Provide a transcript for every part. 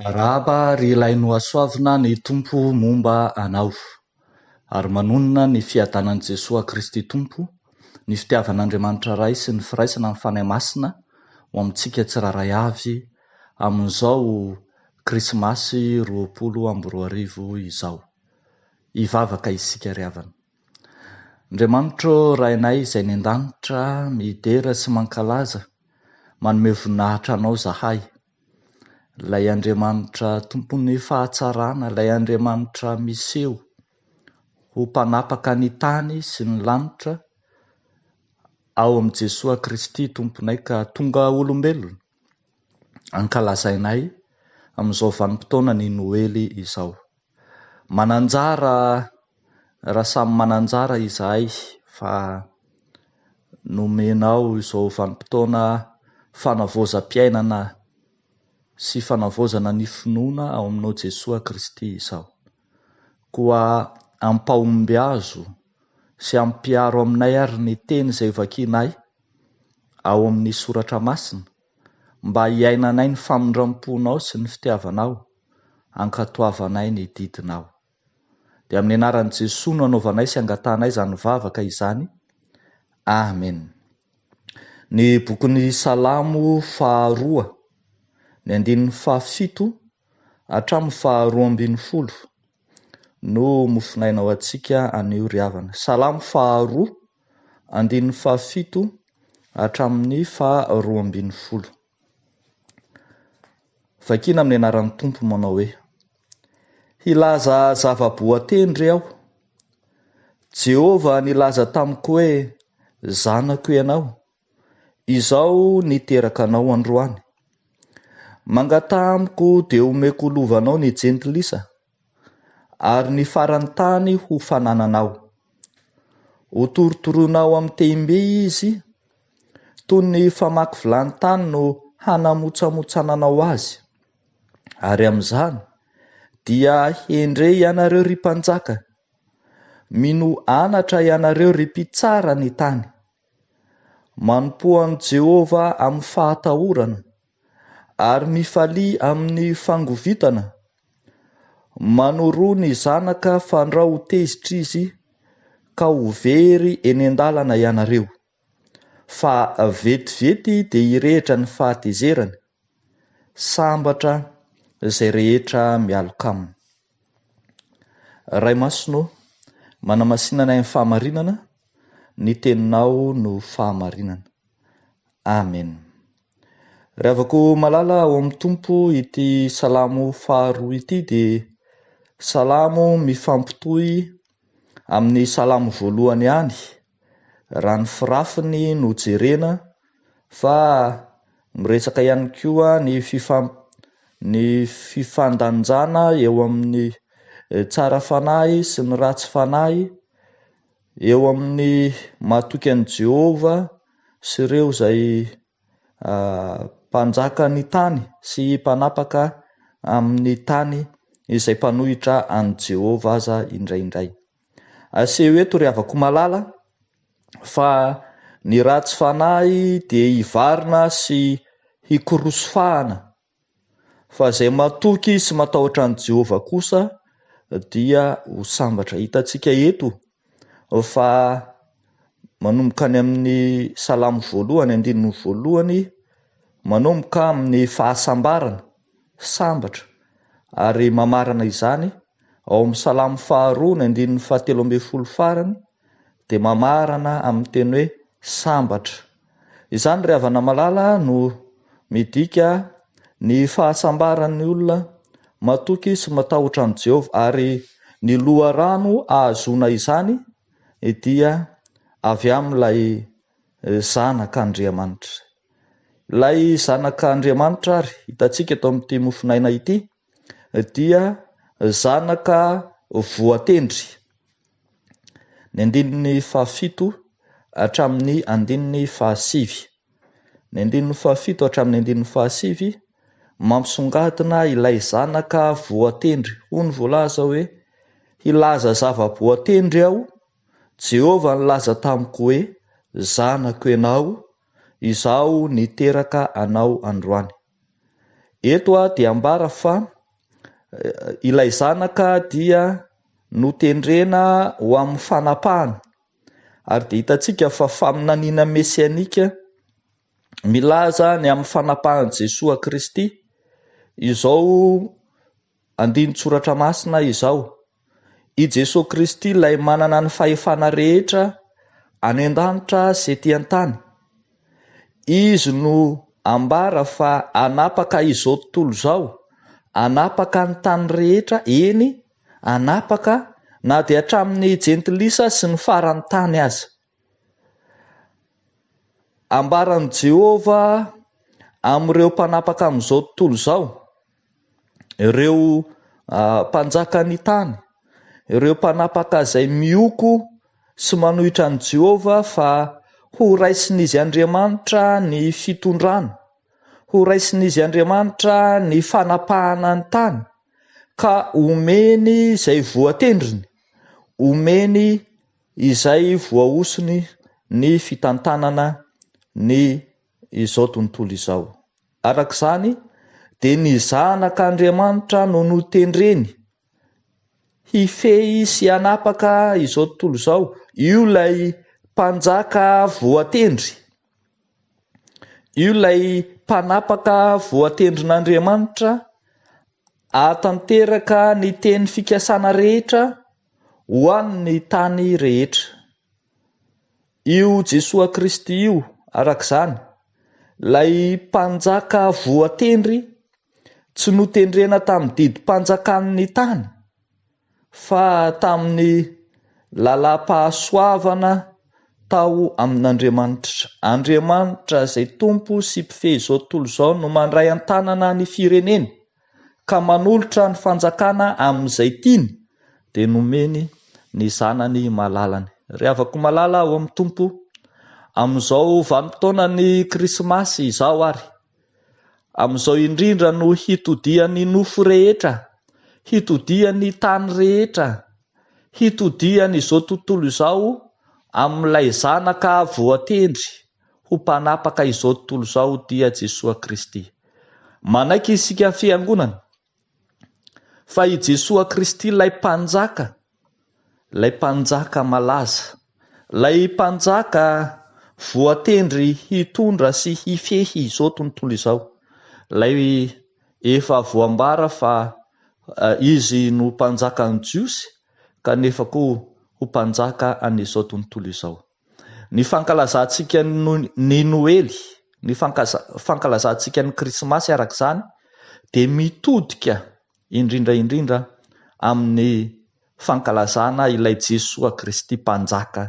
Arahaba ry ilay nohasoavina ny Tompo momba anao, ary manonona ny fiadanan'i Jesoa Kristy Tompo, ny fitiavan'Andriamanitra Ray sy ny firaisana amin'ny Fanahy Masina ho amintsika tsirairay avy amin'izao Krismasy roapolo amby roa arivo izao. Hivavaka isika ry havana. Andriamanitro ô, Rainay izay any an-danitra, midera sy mankalaza, manome voninahitra Anao izahay. Ilay Andriamanitra tompon'ny fahatsarana, ilay Andriamanitra miseho ho mpanapaka ny tany sy ny lanitra, ao amin'i Jesoa Kristy Tomponay ka tonga olombelona, ankalazainay amin'izao vanim-potoana ny Noely izao. Mananjara raha samy mananjara izahay fa nomenao izao vanim-potoana fanavaozam-piainana sy fanavaozana ny finoana ao aminao Jesoa Kristy izao. Koa ampahombiazo sy ampiaro aminay ary ny teny izay vakianay ao amin'ny soratra masina Mba hiainanay ny famindram-ponao sy ny fitiavanao, ankatoavanay ny didinao. Dia amin'ny anaran'i Jesoa no anaovanay sy angatahanay izany vavaka izany. Amen. Ny bokin'ny Salamo faharoa, ny andininy fahafito hatramin'ny faharoa ambin'ny folo no mofonaina ho antsika anio ry havana. Salamo faharoa, Andininy fahafito hatramin'ny faha roa ambin'ny folo. Vakiana amin'ny anaran'ny Tompo manao hoe, Hilaza zava-boatendry aho. Jehovah nilaza tamiko hoe, Zanako ianao, izaho niteraka anao androany. Mangataha amiko dia omeko ho lovanao ny jentilisa. ary ny faran'ny tany ho fanananao. Hotorotoroinao amin'ny tehim-by izy, toy ny famaky vilany tany no hanamotsamotsananao azy. Ary amin'izany, dia hendre ianareo, ry mpanjaka, mino anatra ianareo, ry mpitsara ny tany. Manompoa an'i Jehovah amin'ny fahatahorana. ary mifalia amin'ny fangovitana? Manoroa ny zanaka fandrao ho tezitra izy ka ho very eny an-dalana ianareo, fa vetivety dia hirehitra ny fahatezerany. Sambatra izay rehetra mialoka aminy. Ray Masina ô, manamasina anay amin'ny fahamarinana, ny Teninao no fahamarinana. Amen. Ry havako malala ao amin'ny Tompo ity salamo faharoa ity dia salamo mifampitohy amin'ny salamo voalohany ihany raha ny firafiny no jerena fa miresaka ihany koa ny fifamp- ny fifandanjana eo amin'ny tsara fanahy sy ny ratsy fanahy, eo amin'ny mahatoky an'i Jehovah sy ireo izay mpanjaka ny tany sy mpanapaka amin'ny tany izay mpanohitra an'i Jehovah aza indraindray. Aseho eto ry havako malala fa ny ratsy fanahy dia hivarina sy hikoroso fahana, fa izay matoky sy matahotra an'i Jehovah kosa dia ho sambatra. Hitantsika eto fa manomboka any amin'ny Salamo voalohany andininy voalohany manomboka amin'ny fahasambarana, sambatra, ary mamarana izany Ao amin'ny Salamo faharoa ny andininy fahatelo ambin'ny folo farany dia mamarana amin'ny teny hoe sambatra. Izany ry havana malala no midika ny fahasambaran'ny olona matoky sy matahotra an'i Jehovah ary ny loharano ahazoana izany dia avy amin'ilay Zanak'Andriamanitra. Ilay Zanak'Andriamanitra ary hitantsika eto amin'ity mofon'aina ity. dia zanaka voatendry. Ny andininy fahafito hatramin'ny andininy fahasivy. Ny andininy fahafito hatramin'ny andininy fahasivy, mampisongadina ilay zanaka voatendry. Hoy ny voalaza hoe, Hilaza zava-boatendry aho, Jehovah nilaza tamiko hoe, Zanako ianao, izaho niteraka anao androany. Eto dia ambara fa ilay zanaka dia notendrena ho amin'ny fanapahana ary dia hitantsika fa faminaniana mesianika milaza ny amin'ny fanapahan'i Jesoa Kristy izao Andinin-tsoratra masina izao. I Jesoa Kristy ilay manana ny fahefana rehetra any an-danitra sy ety an-tany. Izy no ambara fa hanapaka izao tontolo izao, hanapaka ny tany rehetra, eny, hanapaka na dia hatramin'ny jentilisa sy ny faran'ny tany aza. Ambaran'i Jehovah amin'ireo mpanapaka amin'izao tontolo izao, ireo mpanjakan'ny tany, ireo mpanapaka izay mihoko sy manohitra an'i Jehovah, fa horaisin'izy Andriamanitra ny fitondrana, horaisin'izy Andriamanitra ny fanapahana ny tany, ka omeny izay voatendriny, omeny izay voahosony ny fitantanana ny izao tontolo izao. Araka izany, dia ny Zanak' Andriamanitra no notendreny hifehy sy hanapaka izao tontolo izao, io ilay Mpanjaka voatendry, io ilay Mpanapaka voatendrin' Andriamanitra hahatanteraka ny teny fikasana rehetra ho an' ny tany rehetra. Io Jesoa Kristy io, araka izany, ilay Mpanjaka voatendry tsy notendrena tamin'ny didim-panjakan' ny tany, fa tamin'ny lalam-pahasoavana tao amin' Andriamanitra. Andriamanitra izay Tompo sy Mpifehy izao tontolo izao no mandray an-tanana ny fireneny, ka manolotra ny fanjakana amin'izay tiany dia nomeny ny zanany malalany. Ry havako malala ao amin'ny Tompo, amin'izao vanim-potoanan'ny Krismasy izao ary amin'izao indrindra no hitodihan'ny nofo rehetra, hitodihan'ny tany rehetra, hitodihan'izao tontolo izao amin'ilay Zanaka voatendry. ho mpanapaka izao tontolo izao dia Jesoa Kristy. Manaiky isika Fiangonana fa i Jesoa Kristy ilay Mpanjaka, ilay Mpanjaka malaza, ilay Mpanjaka voatendry hitondra sy hifehy izao tontolo izao, ilay efa voambara fa Izy no Mpanjakan'ny Jiosy kanefa koa ho Mpanjaka an'izao tontolo izao. Ny fankalazantsika ny Noely, ny fankalazantsika ny Krismasy araka izany dia mitodika indrindra indrindra amin'ny fankalazana ilay Jesoa Kristy Mpanjaka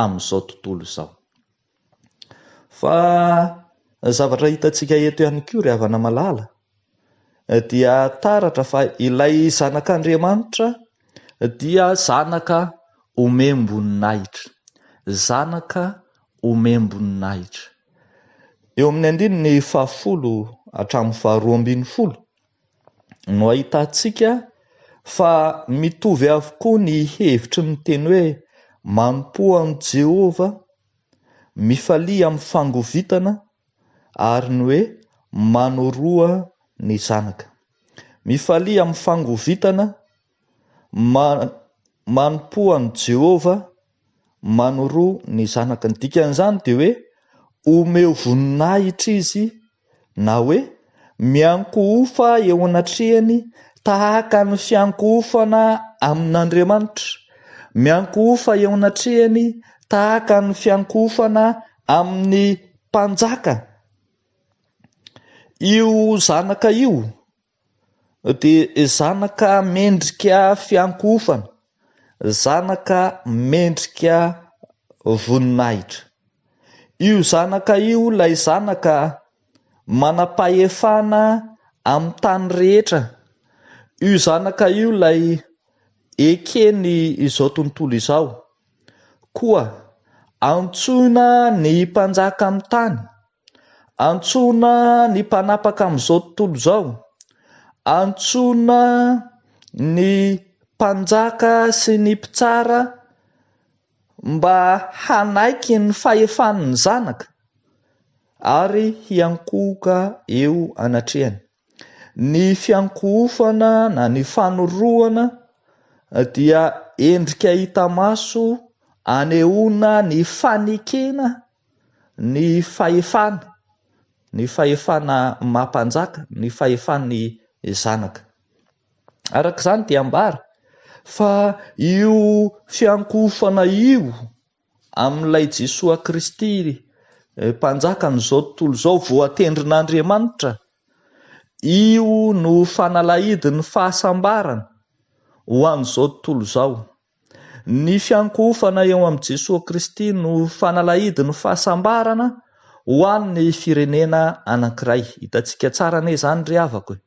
amin'izao tontolo izao. Fa zavatra hitantsika eto ihany koa ry havana malala dia taratra fa ilay Zanak'Andriamanitra dia zanaka omem-boninahitra, zanaka omem-boninahitra. Eo amin'ny andininy fahafolo hatramin'ny faharoa ambin'ny folo no ahitantsika fa mitovy avokoa ny hevitry ny teny hoe manompoa an'i Jehovah, mifalia amin'ny fangovitana ary ny hoe manoroha ny zanaka. Mifalia amin'ny fangovitana ma manompoa an'i Jehovah manoroa ny zanaka. Ny dikan'izany dia hoe omeo voninahitra izy na hoe Miankohofa eo anatrehany tahaka ny fiankohofana amin'Andriamanitra, miankohofa eo anatrehany tahaka ny fiankohofana amin'ny mpanjaka. Io zanaka io dia zanaka mendrika fiankohofana. Zanaka mendrika voninahitra. Io Zanaka io ilay Zanaka manam-pahefana amin'ny tany rehetra. Io Zanaka io ilay Eken'ny izao tontolo izao. Koa antsoina ny Mpanjaka amin'ny tany. Antsoina ny mpanapaka amin'izao tontolo izao, antsoina ny mpanjaka sy ny mpitsara mba hanaiky ny fahefan'ny Zanaka ary hiankohoka eo anatrehany. Ny fiankohofana na ny fanorohana dia endrika hita maso anehoana ny fanekena ny fahefana, ny fahefana maha-mpanjaka, ny fahefan'ny zanaka. Araka izany dia ambara fa io fiankohofana io. amin'ilay Jesoa Kristy Mpanjakan'izao tontolo izao voatendrin'Andriamanitra, io no fanalahidin'ny fahasambarana ho an'izao tontolo izao. Ny fiankohofana eo amin'i Jesoa Kristy no fanalahidin'ny fahasambarana ho an'ny firenena anankiray. Hitantsika tsara anie izany ry havako e!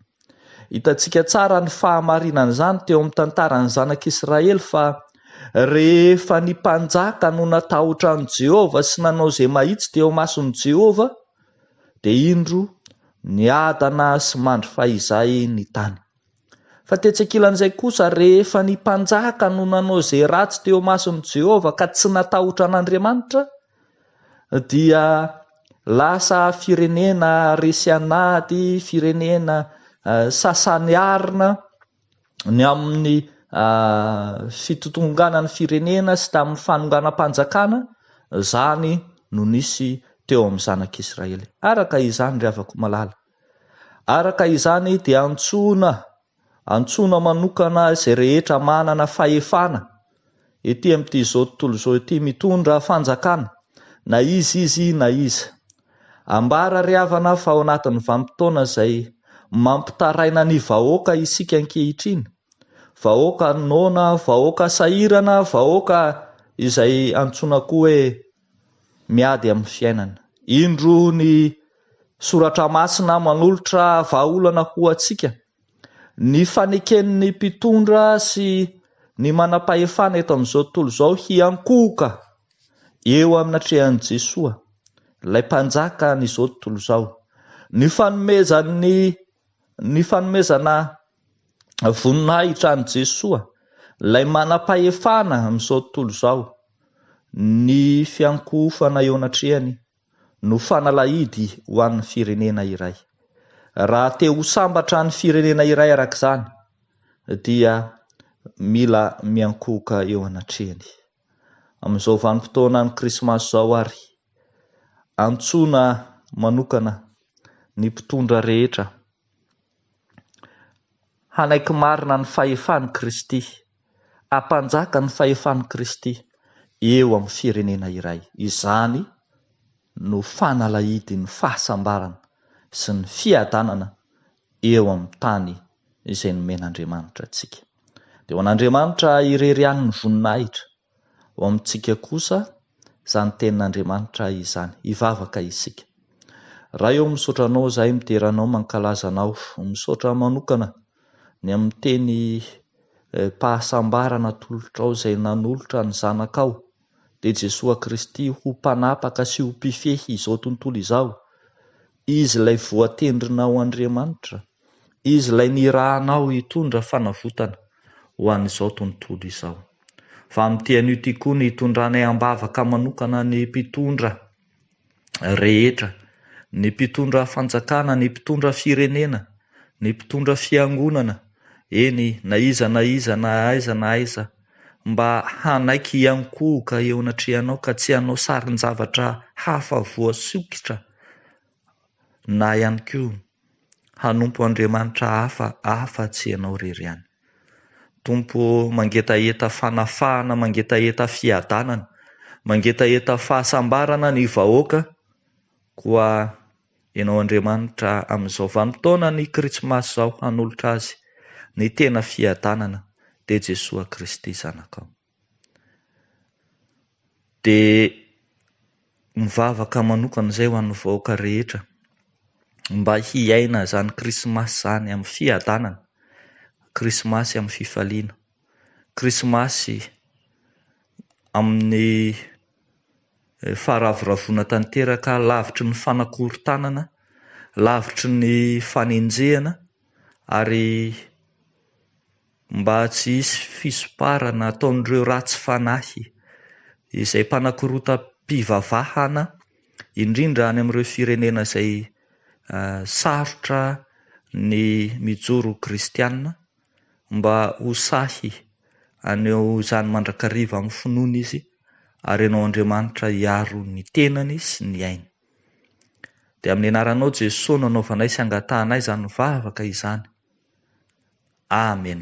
Hitantsika tsara ny fahamarinan'izany teo amin'ny tantaran'ny Zanak'Israely fa rehefa ny mpanjaka no natahotra an'i Jehovah sy nanao izay mahitsy teo imason'i Jehovah, dia indro niadana sy mandry fahizay ny tany. Fa tetsy ankilan'izay kosa, rehefa ny mpanjaka no nanao izay ratsy teo imason'i Jehovah ka tsy natahotra an'Andriamanitra, dia lasa firenena resy anaty firenena sasany arina ny amin'ny fitontonganan'ny firenena sy tamin'ny fanonganam-panjakana, izany no nisy teo amin'ny zanak'Israely. Araka izany, ry havako malala, araka izany dia antsoina. Antsoina manokana izay rehetra manana fahefana ety amin'ity izao tontolo izao ity mitondra fanjakana, na iza izy na iza. Ambara ry havana fa ao anatin'ny vanim-potoana izay mampitaraina ny vahoaka isika ankehitriny, vahoaka noana, vahoaka sahirana, vahoaka izay antsoina koa hoe. miady amin'ny fiainana. Indro ny Soratra Masina manolotra vahaolana ho antsika, Ny faneken'ny mpitondra sy ny manam-pahefana eto amin'izao tontolo izao hiankohoka eo amin'ny natrehan'i Jesoa, ilay Mpanjakan'izao tontolo izao. Ny fanomezan'ny ny fanomezana voninahitra an'i Jesoa, ilay manam-pahefana amin'izao tontolo izao, ny fiankohofana eo anatrehany no fanalahidy ho an'ny firenena iray. Raha te ho sambatra ny firenena iray arak'izany dia mila miankohoka eo anatrehany. Amin'izao vanim-potoanan'ny krismasy izao ary, antsoina manokana ny mpitondra rehetra Hanaiky marina ny fahefan'i Kristy, hampanjaka ny fahefan'i Kristy eo amin'ny firenena iray. Izany no fanalahidin'ny fahasambarana sy ny fiadanana eo amin'ny tany izay nomen'Andriamanitra antsika. Dia ho an'Andriamanitra irery ihany ny voninahitra. Ho amintsika kosa izany tenin'Andriamanitra izany. Hivavaka isika. Ray ô misaotra anao izahay midera anao mankalaza anao misaotra manokana ny amin'ny teny pahasambarana atolotrao izay nanolotra ny zanakao dia Jesoa Kristy ho mpanapaka sy ho mpifehy izao tontolo izao Izy ilay voatendrinao Andriamanitra, Izy ilay nirahanao hitondra fanavotana ho an'izao tontolo izao. Fa amin'ity anio ity koa ny hitondranay am-bavaka manokana ny mpitondra rehetra, ny mpitondra fanjakana, ny mpitondra firenena, ny mpitondra fiangonana, eny na iza na iza na aiza na aiza, mba hanaiky hiankohoka eo anatrehanao ka tsy hanao sarin-javatra hafa voasokitra na ihany koa hanompo andriamanitra hafa afa-tsy ianao irery ihany. Tompo ô, mangetaheta fanafahana, mangetaheta fiadanana, mangetaheta fahasambarana ny vahoaka, koa Enao Andriamanitra amin'izao vanim-potoanan'ny Kritsmasy izao hanolotra Azy ny tena fiadanana dia Jesoa Kristy Zanakao. Dia mivavaka manokana izay ho an'ny vahoaka rehetra mba hiaina izany Krismasy izany amin'ny fiadanana, Krismasy amin'ny fifaliana, Krismasy amin'ny Faharavoravoana tanteraka lavitry ny fanakorontanana, lavitry ny fanenjehana ary mba tsy hisy fisomparana ataon'ireo ratsy fanahy izay mpanakorontam-pivavahana indrindra any amin'ireo firenena izay sarotra ny mijoro ho kristiana. mba ho sahy haneho izany mandrakariva amin'ny finoana izy ary hanao Andriamanitra hiaro ny tenany sy ny ainy. Dia amin'ny anaranao Jeso no anaovanay sy angatahanay izany vavaka izany. Amen.